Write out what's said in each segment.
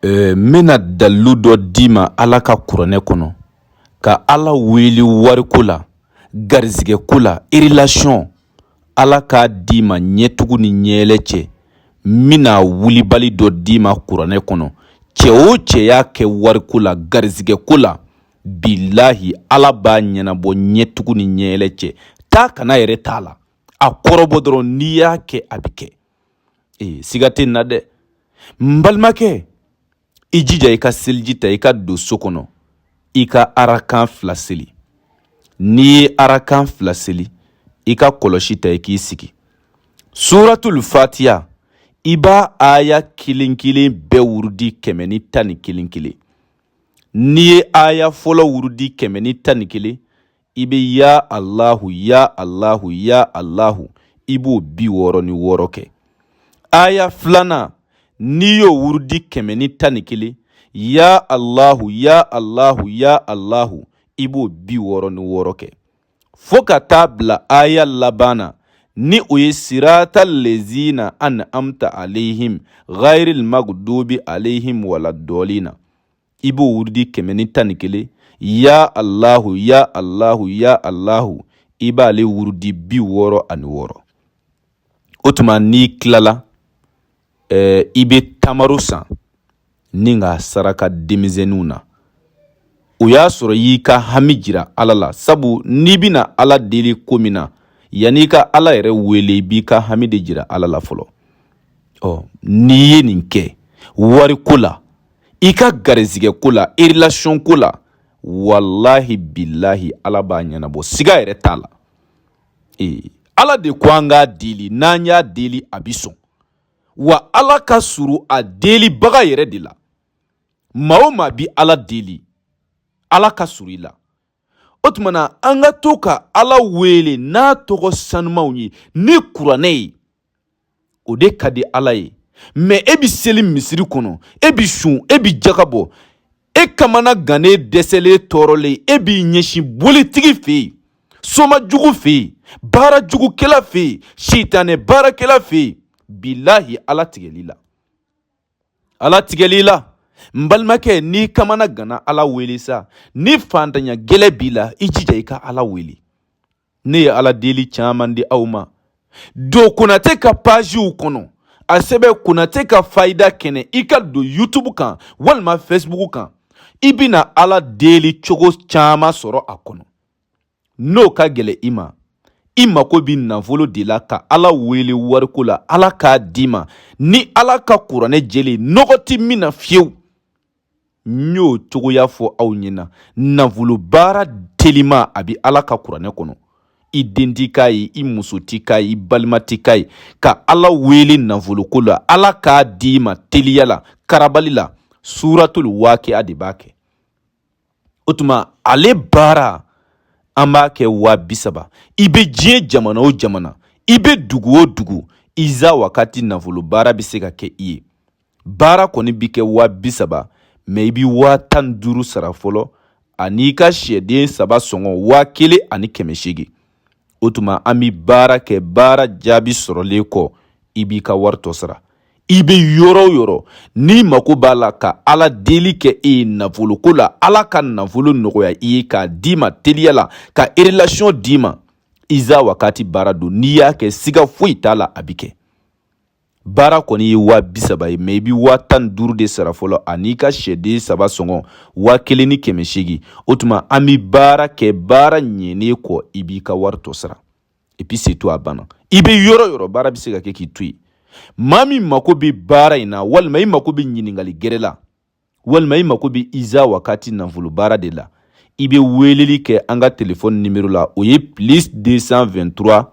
n bɛna dalilu dɔ d'i ma ala ka kuranɛ kɔnɔ ka ala wele wariko la garizigɛ ko la relation ala k'a d'i ma ɲɛtugu ni ɲɛɛlɛ cɛ n bɛna wulibali dɔ d'i ma kuranɛ kɔnɔ cɛ o cɛ y'a kɛ wariko la garizigɛ ko la bilahi ala b'a ɲɛnabɔ ɲɛtugu ni ɲɛɛlɛ cɛ taa ka na yɛrɛ t'a la a kɔrɔbɔ dɔrɔn n'i y'a kɛ a bɛ kɛ ee siga tɛ n na dɛ n balimakɛ i jija i ka seliji ta i ka don so kɔnɔ i ka arakan fila seli n'i ye arakan fila seli i ka kɔlɔsi ta i k'i sigi suratul fatiya i b'a aya kelen kelen bɛɛ wurudi kɛmɛ ni tan ni kelen kelen n'i ye aya fɔlɔ wurudi kɛmɛ ni tan ni kelen i bɛ ya alahu ya alahu ya alahu i b'o bi wɔɔrɔ ni wɔɔrɔ kɛ aya filanan n'i y'o wurudi kɛmɛ ni tan ni kelen ya alahu ya alahu ya alahu i b'o bi wɔɔrɔ ni wɔɔrɔ kɛ fo ka taa bila aya laban na ni o ye sirata lezina an amta alehim ghairil magdubi alehim wala dɔɔlina i b'o wurudi kɛmɛ ni tan ni kelen ya alahu ya alahu ya alahu i b'ale wurudi bi wɔɔrɔ ani wɔɔrɔ o tuma n'i tilala eh, i bɛ tamaro san n'i k'a saraka denmisɛnninw na o y'a sɔrɔ y'i ka hami jira ala la sabu n'i bɛna ala deli ko min na yanni i ka ala yɛrɛ wele i b'i ka hami de jira ala la fɔlɔ ɔ n'i ye nin kɛ wariko la i ka garizigɛ ko la relation ko la walahi bilahi ala b'a ɲɛnabɔ siga yɛrɛ t'a la ee ala de ko an k'a deli n'an y'a deli a bi sɔn wa ala ka suru a delibaga yɛrɛ de la maa o maa bi ala deli ala ka suru i la o tuma na an ka to ka ala wele n'a tɔgɔ sanumanw ye ni kuranɛ ye o de ka di ala ye mɛ e bɛ seli misiri kɔnɔ e bɛ sun e bɛ jaga bɔ e kamana gannen dɛsɛlen tɔɔrɔlen e b'i ɲɛsin bolitigi fɛ yen soma jugu fɛ yen baara jugukɛla fɛ yen sitanɛ baarakɛla fɛ yen bilahi ala tigɛl'i la ala tigɛl'i la n balimakɛ n'i kamana ganna ala wele sa ni fantanya gɛlɛn b'i la i jija i ka ala wele ne ye ala deli caman di aw ma don konatɛ ka paziw kɔnɔ a sɛbɛn konatɛ ka fayida kɛnɛ i ka don yutubu kan walima fɛsibugu kan i bɛna ala deli cogo caman sɔrɔ a kɔnɔ n'o ka gɛlɛ i ma i mako bɛ nafolo de la ka ala wele wariko la ala k'a d'i ma ni ala ka kuranɛ jɛlen nɔgɔ tɛ min na fiyewu n y'o cogoya fɔ aw ɲɛna nafolo baara telima a bɛ ala ka kuranɛ kɔnɔ i den t'i k'a ye i muso t'i k'a ye i balima t'i k'a ye ka ala wele nafoloko la ala k'a d'i ma teliya la karabali la suratul wakiya de b'a kɛ o tuma ale baara an b'a kɛ waa bi saba i bɛ diɲɛ jamana o jamana i bɛ dugu o dugu iza wakati nafolo baara bɛ se ka kɛ i ye baara kɔni bɛ kɛ waa bi saba mɛ i bɛ waa tan ni duuru sara fɔlɔ an'i ka sɛden saba sɔngɔ waa kelen ani kɛmɛ seegin o tuma an bɛ baara kɛ baara jaabi sɔrɔlen kɔ i b'i ka wari tɔ sara i bɛ yɔrɔ o yɔrɔ n'i mago b'a la ka ala deli kɛ e ye nafoloko la ala ka nafolo nɔgɔya i ye k'a d'i ma teliya la ka erelasiɔn d'i ma iza wakati baara don n'i y'a kɛ siga foyi t'a la a bɛ kɛ baara kɔni ye waa bi saba ye mɛ i bi waa tan ni duuru de sara fɔlɔ an'i ka sɛden saba sɔngɔ waa kelen ni kɛmɛ seegin o tuma an bi baara kɛ baara ɲɛnen kɔ i b'i ka wari tɔ sara epi se to a banna i bɛ yɔrɔ yɔrɔ baara bɛ se ka kɛ k'i to yen maa min mako bɛ baara in na walima i mako bɛ ɲininkali gɛrɛ la walima i mako bɛ iza wakati nafolo baara de la i bɛ weeleli kɛ an ka telefɔni nimero la o ye plus 223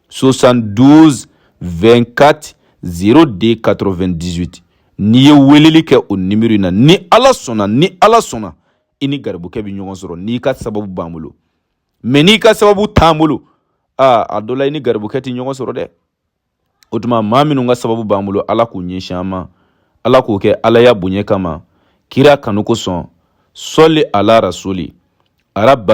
72 24 02 98 n'i ye weeleli kɛ o nimero in na ni ala sɔnna ni ala sɔnna i ni garibukɛ bɛ ɲɔgɔn sɔrɔ n'i ka sababu b'an bolo mɛ n'i ka sababu t'an bolo aa a dɔ la i ni garibukɛ tɛ ɲɔgɔn sɔrɔ dɛ o tuma maa minnu ka sababu b'an bolo ala k'u ɲɛsin an ma ala k'o kɛ alaya bonya kama kira kanu kosɔn sɔli ala rasuli arabana